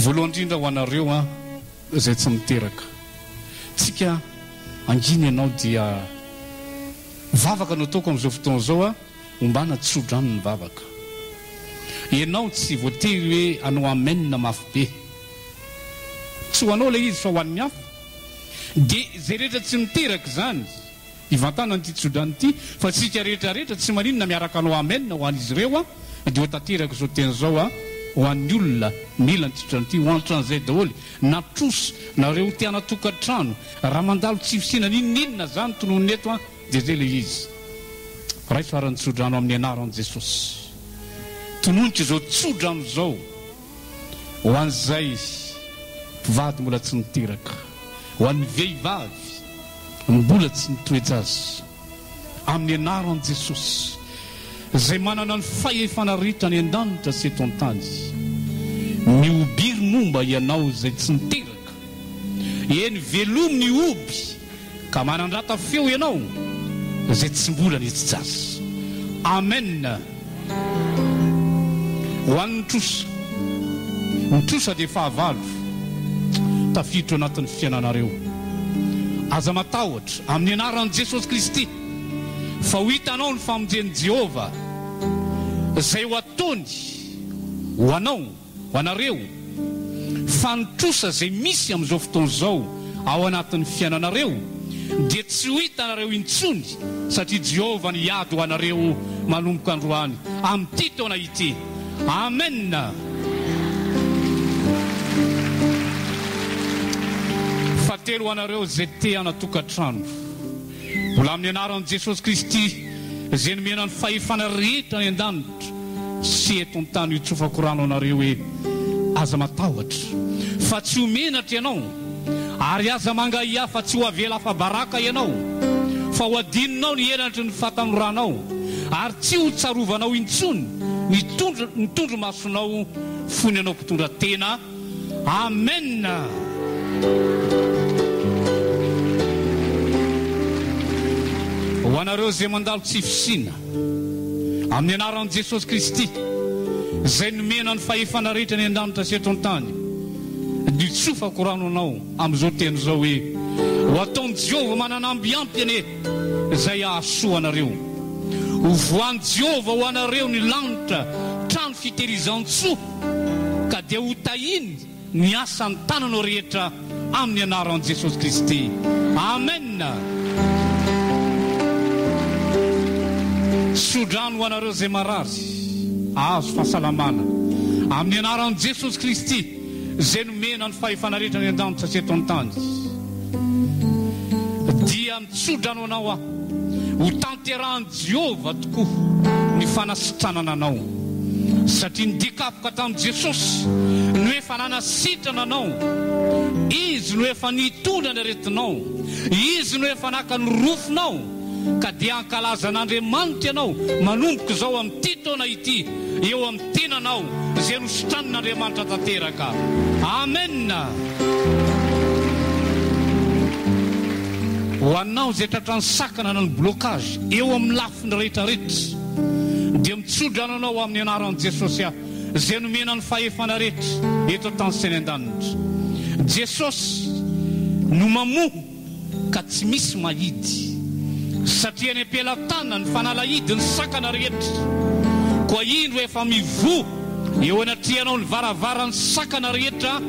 Voalohany indrindra ho anareo an izay tsy miteraka tsika angina ianao dia vavaka no ataoko amin'izao fotoana izao an ombana tsodrano ny vavaka ianao tsy voatery hoe anao amen mafy be tsy ho anao ilay izy fa ho an'ny hafa dia izay rehetra tsy miteraka izany Hivantana an'ity tsodrano ity fa tsika rehetra rehetra tsy maninona miaraka anao amen ho an'izy ireo aho dia ho tanterako izao teny izao aho ho an'ny olona mila an'ity tsodrano ity ho antran'izay daholo na trosa na reo teanatokantrano raha mandalo tsy fisiana n'inon'inona za ny tonony eto an dia zay le izy raiso aran'ny tsodrano amin'ny anaran'i Jesosy tononiko izao tsodrano izao Ho an'izay mpivady mbola tsy niteraka, ho an'ny vehivavy mbola tsy nitoe-jaza, amin'ny anaran'i Jesosy, izay manana ny fahefana rehetra any an-danitra sy eto an-tany, ny obiry momba ianao izay tsy niteraka, eny, velomy ny oby. Ka manandrata feo ianao izay tsy mbola nijijasa. Amen ho an'ny trosa. Ny trosa dia fahavalo tafiditra ao anatin'ny fiainanareo. Aza matahotra amin'ny anaran'i Jesosy Kristy fa ho hitanao ny famonjen'i Jehovah izay ho ataony ho anao. Ho anareo, fa ny trosa izay misy amin'izao fotoana izao ao anatin'ny fiainanareo dia tsy ho hitanareo intsony, satria Jehovah no hiady ho anareo manomboka androany, amin'ity taona ity. Amena! Fahatelo ho anareo izay te-hana-tokantrano. Mbola amin'ny anaran'i Jesosy Kristy izay nomena ny fahefana rehetra any an-danitra sy eto an-tany hitsofako rano anareo hoe aza matahotra fa tsy ho menatra ianao ary aza mangahiahy fa tsy ho avela afa-baraka ianao fa ho adinonao ny henatry ny fatanoranao ary tsy ho tsarovanao intsony ny tondro-masonao fony ianao mpitondra tena Amen! Ho anareo izay mandalo tsy fisiana, amin'ny anaran'i Jesosy Kristy, izay nomena ny fahefana rehetra any an-danitra sy eto an-tany, dia tsofako rano anao amin'izao teny izao hoe, Ho ataon'i Jehovah mananamby ampy anie izay hahasoa anareo. Ho voan'i Jehovah ho anareo ny lanitra, trano fitehirizan-tsoa. ka dia ho tahiny ny asan'ny tananao rehetra amin'ny anaran'i Jesosy Kristy. Amen! Tso-drano ho anareo izay marary, ahazo fahasalamana amin'ny anaran'i Jesosy Kristy izay nomena ny fahefana rehetra any an-danitra sy eto an-tany. Dia mitso-drano anao aho, ho tanterahan'i. Jehovah tokoa ny fanasitranana anao, satria ny dikapoka tamin'i Jesosy no efa nanasitrana anao, Izy no efa nitondra ny aretinao, Izy no efa naka ny rofinao, ka dia hankalaza an'Andriamanitra ianao manomboka izao amin'ity taona ity eo Tiana anao izay nosotranin' Andriamanitra tanteraka. Amen. Ho anao izay tratran'ny sakana na ny blocage eo amin'ny lafiny rehetra rehetra dia mitsodrano anao amin'ny anaran'i Jesosy aho izay nomena ny fahefana rehetra eto an-tany sy any an-danitra. Jesosy no mamoha. ka tsy misy mahidy, satria eny am-pelatanana ny fanalahidin'ny sakana rehetra. Koa indro efa mivoha eo anatrehanao ny varavaran'ny sakana rehetra,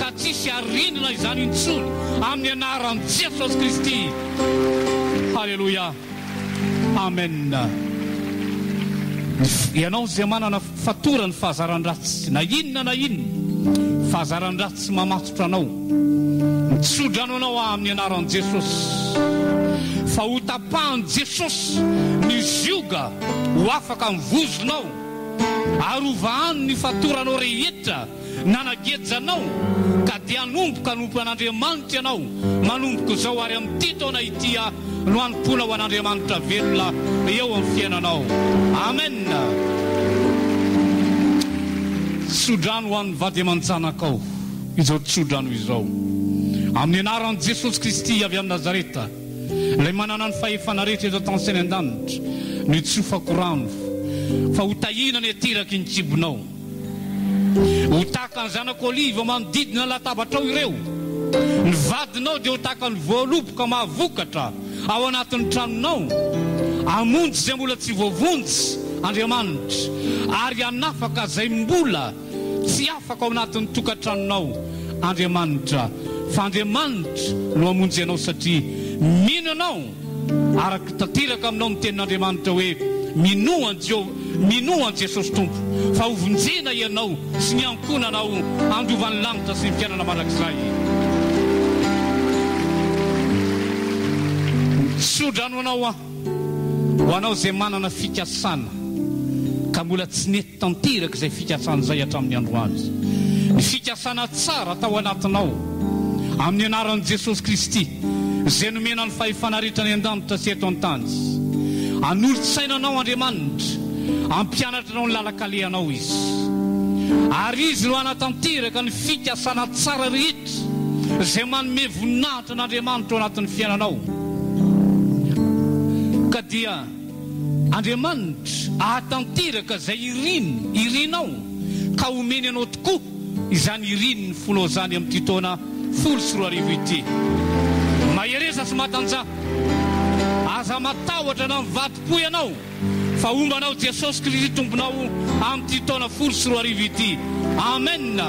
ka tsy hisy harendrina izany intsony, amin'ny anaran'i Jesosy Kristy. Haleloia. Amena. Ny, ianao izay manana. Fatorany fahazaran-dratsy na inona na inona fahazaran-dratsy mamatotra anao. Mitsodrano anao aho amin'ny anaran'i Jesosy fa ho tapahan'i Jesosy ny zioga ho afaka ny vozonao ary ho vahany ny fatoranao rehetra. Nanageja anao ka dia hanomboka hanompo an'Andriamanitra ianao manomboka izao ary amin'ity taona ity aho no hanompoana ho an'Andriamanitra velona eo amin'ny fiainanao. Amen. Tsodrano ho an'ny vady aman-janakao izao tsodrano izao. Amin'ny anaran'i Jesosy Kristy avy any Nazareta, Ilay manana ny fahefana rehetra eto an-tany sy any an-danitra, notsofako rano fa ho tahiana ny ateraky ny kibonao. Ho tahaka ny zanak'i oliva manodidina latabatrao ireo. Ny vadinao dia ho tahaka ny voaloboka mahavokatra ao anatin'ny tranonao. Hamonjy izay mbola tsy voavonjy Andriamanitra, ary hanafaka izay mbola tsy afaka ao anatin'ny tokantranonao Andriamanitra, fa Andriamanitra no hamonjy anao satria mino ianao. Arako tanteraka aminao ny tenin'Andriamanitra hoe, Minoa an'i Jehovah, minoa an'i Jesosy Tompo, fa hovonjena ianao sy ny ankohonanao handovan'ny lanitra sy ny fiainana mandrakizay. Tso-drano anao aho, ho anao izay manana fikasana ka mbola tsy nety. Tanteraka izay fikasany izay hatramin'ny androany. Ny fikasana tsara atao anatinao. Amin'ny anaran'i Jesosy Kristy, izay nomena ny fahefana rehetra any an-danitra sy eto an-tany. Hanolo-tsaina anao Andriamanitra. Hampianatra anao ny lalan-kalehanao Izy. Ary Izy no hanatanteraka ny fikasana tsara rehetra izay manome voninahitra an'Andriamanitra ao anatin'ny fiainanao. Ka dia. Andriamanitra ahatanteraka izay iriny, irinao, ka homeny anao tokoa izany irin'ny fonao izany amin'ity taona folo sy roa arivo ity. Mahereza sy matanja. Aza matahotra na mivadi-po ianao, fa homba anao Jesosy Kristy Tomponao amin'ity taona folo sy roa arivo ity. Amen!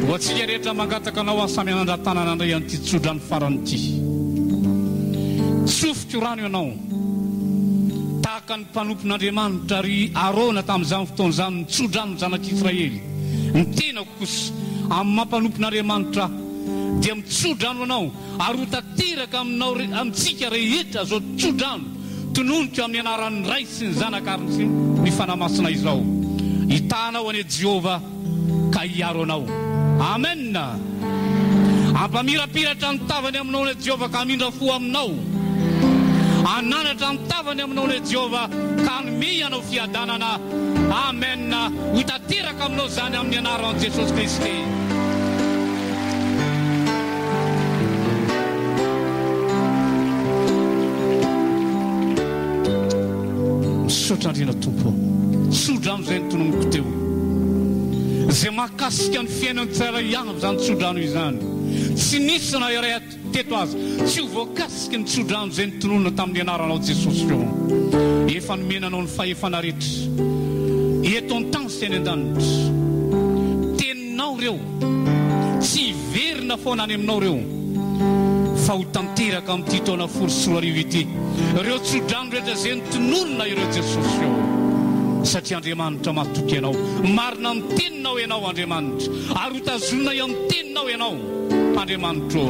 Ho antsika rehetra mangataka anao aho samy hanandra-tanana handray an'ity tso-drano Farany ity. Tsofiko rano ianao. Tahaka ny mpanompon'Andriamanitra ry Arona tamin'izany fotoana izany nitso-drano ny zanak'Israely, ny tenako kosa, amin'ny maha mpanompon'Andriamanitra ahy, dia mitso-drano anao, ary ho tanteraka aminao, amintsika rehetra, izao tso-drano tononiko amin'ny anaran'ny Ray sy ny Zanaka ary ny Fanahy Masina izao. Hitahanao anie Jehovah ka hiaro anao. Amen! Hampamirapiratra ny tavany aminao ny Jehovah ka hamindra fo aminao. Hananatra ny tavany aminao ny Jehovah ka hanome hianao fiadanana. Amen! Ho tanteraka aminao izany amin'ny anaran'i Jesosy Kristy. Misaotra Andriana Tompo. Izay ny tononiko teo. Izay mahakasika ny fiainan'ny tsirairay avy izany tsodrano izany. Tsy nisy na iray teto aza tsy ho voakasiky ny tsodrano izay notononina tamin'ny anaranao Jesosy ô. Efa nomena anao ny fahefana rehetra eto an-tany sy any an-danitra. Aminao ireo. Tsy hiverina foana any aminao ireo fa ho tanteraka amin'ity taona folo sy roa arivo ity ireo tsodrano rehetra izay notonorina ireo Jesosy ô! Satria Andriamanitra matoky Ianao. Marina amin'ny teninao Ianao Andriamanitra ary ho tazoninay amin'ny teninao Ianao Andriamanitra ô!